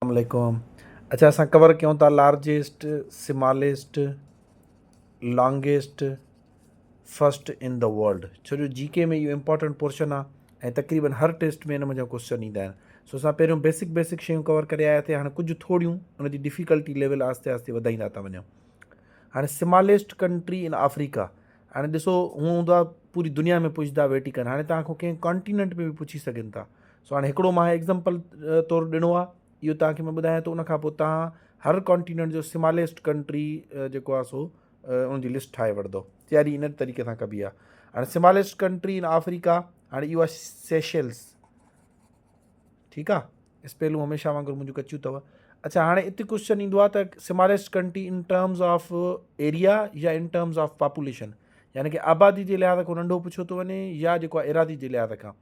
السلام عليڪم اڇا اسان ڪور ڪيون ٿا largest smallest longest first in the world ڇو جو جي ڪي ۾ اهو امپورٽنٽ پورشن آ ۽ تقريبن هر ٽيسٽ ۾ ان منجهان ڪوسچن ايندا آهن سو اسان پهريون بيسڪ بيسڪ شيون ڪور ڪري آيا ٿي هاڻي ڪجهه ٿوريون ان جي ڊيفيڪلٽي ليول آهستي آهستي وڌائيندا ٿا وڃون هاڻي سماليسٽ ڪنٽري ان آفريڪا هاڻي ڏسو هو هوندا پوري دنيا ۾ پڇدا ويٽيڪن هاڻي تان کان ڪنهن ڪانٽيننٽ ۾ به پڇي سگهن ٿا سو هاڻي هڪڙو مان ايگزمپل طور ڏنو آ اهو توهان کي مان ٻڌايان ٿو ان کان پوء توهان هر ڪانٽيننٽ جو سماليسٽ ڪنٽري جيڪو آ سو ان جي لسٽ ٺاهي وٺندو تياري ان طريقي سان ڪبي آ هاڻي سماليسٽ ڪنٽري ان آفريڪا هاڻي اهو آ سيشلس ٺيڪ آ اسپيلون هميشه وانگر منهنجو ڪچيون اٿو اچھا هاڻي اتي ڪوشچن ايندو آ ته smallest country in terms of area يا ان ٽرمز آف پاپوليشن يعني ڪي آبادي جي لحاظ کان ننڍو پڇيو ٿو وڃي يا جيڪو آ ايراضي جي لحاظ کان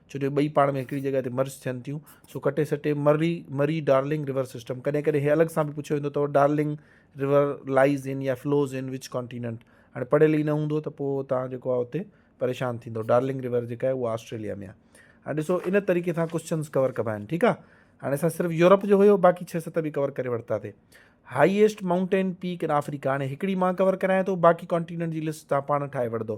ڇو جو ٻئي پاڻ ۾ هڪڙي جڳهه تي مرج ٿين ٿيون سو ڪٽي سٽي Murray Murray Darling river system ڪڏهن ڪڏهن هي الڳ سان به پڇيو ويندو اٿو ڊارلنگ رور لائز ان يا فلوز ان وچ ڪانٽيننٽ هاڻي پڙهيل ئي نه هوندو ته پوء تان جيڪو آهي اتي پريشان ٿيندو ڊارلنگ رور جيڪا آهي اها آسٽريليا ۾ آهي هاڻي ڏسو ان طريقي سان ڪوشچنس ڪور ڪبا آهن ٺيڪ آهي هاڻي اسان صرف يورپ جو هيو باقي ڇهه ست به ڪور ڪري ورتا تي highest mountain peak in Africa هاڻي هڪڙي مان ڪور ڪرايان ٿو باقي ڪانٽيننٽ جي لسٽ تان پاڻ ٺاهي وٺندو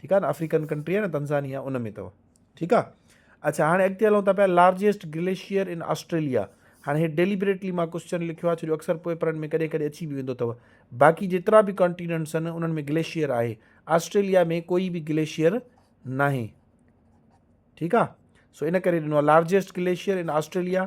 ٺيڪ آ نه افريڪن ڪنٽري آ نه تنزانيا ان ۾ تھو ٺيڪ آ اچھا ھاڻي اڳتي ھلون ٿا پيا لارجيسٽ گليشيئر ان آسٽريليا ھاڻي ھي ڊيليبريٽلي مان ڪوسچن لکيو آ ڇو جو اڪثر پيپرن ۾ ڪڏھن ڪڏھن اچي به ويندو تھو باقي جيترا به ڪانٽيننٽس آھن انھن ۾ گليشيئر آھي آسٽريليا ۾ ڪوئي به گليشيئر ناھي ٺيڪ آ سو ان ڪري ڏنو آ لارجيسٽ گليشيئر ان آسٽريليا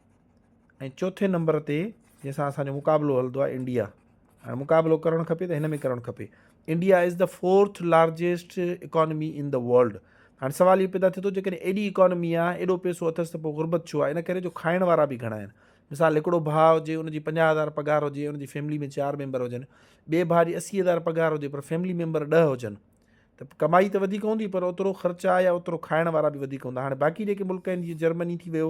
۽ چوٿين نمبر تي جنهن سان اسان جو مقابلو هلندو آهي انڊيا هاڻي مقابلو ڪرڻ کپي ته هن ۾ ڪرڻ کپي India is the fourth largest economy in the world هاڻي سوال اهو پيدا ٿئي ٿو جيڪڏهن ايڏي اڪانومي آ ايڏو پيسو اٿس ته پوء غربت ڇو آ ان ڪري جو کائڻ وارا به گهڻا آهن مثال هڪڙو ڀاء هجي ان جي پنجاهه هزار پگهار هجي ان جي فيملي ۾ چار ميمبر هجن ٻئي ڀاء جي اسي هزار پگهار هجي پر فيملي ميمبر ڏهه هجن ته ڪمائي ته وڌيڪ هوندي پر اوترو خرچ آ يا اوترو کائڻ وارا به وڌيڪ هوندا هاڻي باقي جيڪي ملڪ آهن جيئن جرمني ٿي ويو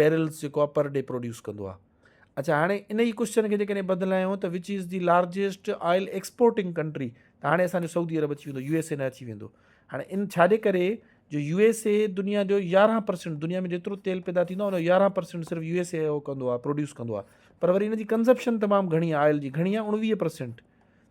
بيرلز جيڪو آهي پر ڊي پروڊيوس ڪندو آهي اچھا هاڻي ان جي ڪوشچن کي جيڪڏهن بدلايون ته which is the largest oil exporting country ته هاڻي اصل سعودي عرب اچي ويندو يو ايس اي نه اچي ويندو هاڻي ان ڇاجي ڪري جو يو ايس اي دنيا جو يارهن پرسنٹ دنيا ۾ جيترو تيل پيدا ٿيندو آهي ان جو يارهن پرسنٹ صرف يو ايس اي اهو ڪندو آهي پروڊيوس ڪندو آهي پر وري ان جي ڪنزپشن تمام گهڻي آئل جي گهڻي آهي اڻويهه پرسنٹ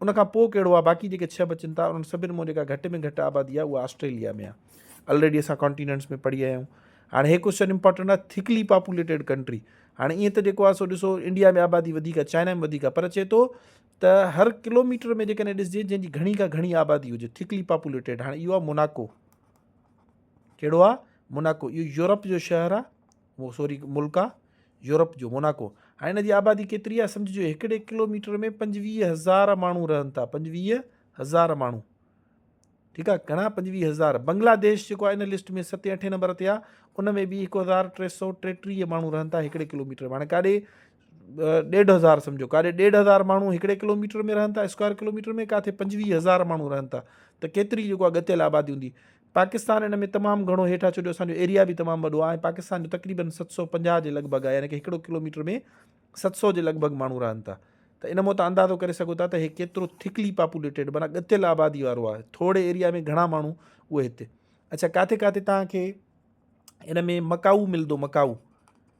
ان کان پوء ڪهڙو آ باقي جيڪي ڇهه بچن ٿا انهن سڀن مون جيڪا گهٽ ۾ گهٽ آبادي آ اها آسٽريليا ۾ آ الريڊي اسان ڪانٽيننٽس ۾ پڙهي آيا آهيون هاڻي هي ڪوشچن امپورٽنٽ آ ٿڪلي پاپوليٽيڊ ڪنٽري هاڻي ائين ته جيڪو آ سو ڏسو انڊيا ۾ آبادي وڌيڪ آ چائنا ۾ وڌيڪ آ پر چي ٿو ته هر ڪلوميٽر ۾ جيڪڏهن ڏسجي جنهن جي گهڻي کان گهڻي آبادي هجي ٿڪلي پاپوليٽيڊ هاڻي اهو آ موناڪو ڪهڙو آ موناڪو اهو يورپ جو شهر آ موسوري ملڪ آ يورپ جو موناڪو ۽ ان جي آبادي ڪيتري آ سمجهجو هڪڙي ڪلو ميٽر ۾ پنجويهه هزار ماڻهو رهن ٿا پنجويهه هزار ماڻهو ٺيڪ آ گهڻا پنجويهه هزار بنگلا ديش جيڪو آ ان لسٽ ۾ ستين اٺين نمبر تي آ ان ۾ به هڪ هزار ٽي سو ٽيٽيهه ماڻهو رهن ٿا هڪڙي ڪلو ميٽر معنی ڪاڏي ڏيڍ هزار سمجھو ڪاڏي ڏيڍ هزار ماڻهو هڪڙي ڪلو ميٽر ۾ رهن ٿا اسڪوائر ڪلو ميٽر ۾ ڪاٿي پنجويهه هزار ماڻهو رهن ٿا ته ڪيتري جيڪو آ ڳتيل آبادي هوندي پاڪستان ان ۾ تمام گهڻو هيٺ آهي ڇو جو اسان جو ايريا به تمام وڏو آهي ۽ پاڪستان جو تقريبن ست سؤ پنجاهه جي لڳ ڀڳ آهي يعني ڪي هڪڙو ڪلو ميٽر ۾ ست سؤ جي لڳ ڀڳ ماڻهو رهن ٿا ته ان مون تان اندازو ڪري سگهو ٿا ته هي ڪيترو ٿڪلي پاپوليٽيڊ معنيٰ ڳتيل آبادي وارو آهي ٿورڙي ايريا ۾ گهڻا ماڻهو اهي هتي اڇا ڪاٿي ڪاٿي توهان کي ان ۾ مڪائو ملدو مڪائو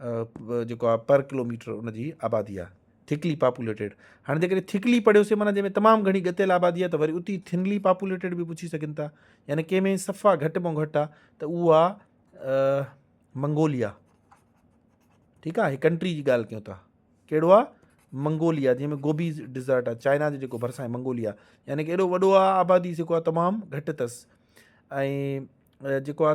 جيڪو آ پر ڪلوميٽر ان جي آبادي آ ٿڪلي پاپوليٽيڊ هاڻي جيڪڏهن ٿڪلي پڙهيوسي معنيٰ جنهن ۾ تمام گهڻي ڳتيل آبادي آ ته وري اتي ٿنلي پاپوليٽيڊ به پڇي سگهن ٿا يعني ڪنهن ۾ صفا گهٽ مون گهٽ آ ته اهو آ منگوليا ٺيڪ آ هي ڪنٽري جي ڳالهه ڪيون ٿا ڪهڙو آ منگوليا جنهن ۾ گوبي ڊيزرٽ آ چائنا جو جيڪو ڀرسان آهي منگوليا يعني ڪي اهڙو وڏو آ آبادي جيڪو آ تمام گهٽ اٿس ۽ جيڪو آ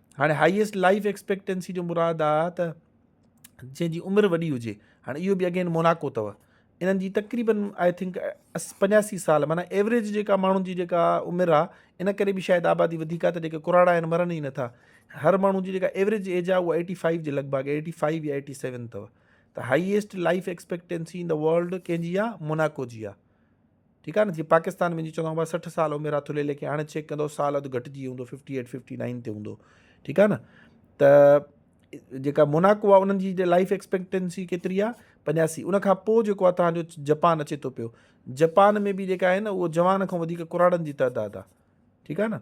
هاڻي هائيسٽ لائيف ايڪسپيڪٽنسي جو مراد آ ته جنهن جي عمر وڏي هجي هاڻي اهو به اگين موناڪو اٿو انهن جي تقريبن آئي ٿنڪ پنجاسي سال معنی ايوریج جيڪا ماڻهن جي جيڪا عمر آ ان ڪري به شايد آبادي وڌيڪ آ ته جيڪي ڪراڙا آهن مرن ئي نٿا هر ماڻهو جي جيڪا ايوریج ايج آ اها ايٽي فائيو جي لڳ ڀڳ ايٽي فائيو يا ايٽي سيون اٿو ته highest life expectancy in world ڪنهن جي آ موناڪو جي آ ٺيڪ آهي نه جي پاڪستان ۾ جي چوندو آهان سٺ سال عمر آ ٿلهي ليکي هاڻي چيڪ ڪندو سال اڌ گهٽجي هوندو ففٽي ايٽ ففٽي نائن تي هوندو ٺيڪ آهي نه ته جيڪا موناڪو آ انهن جي لائف ايڪسپيڪٽنسي ڪيتري آ پنجاسي ان کان پوء جيڪو آ تهان جو جپان اچي ٿو پيو جپان ۾ به جيڪا آهي نه اهو جوان کان وڌيڪ ڪراڙن جي تعداد آ ٺيڪ آهي نه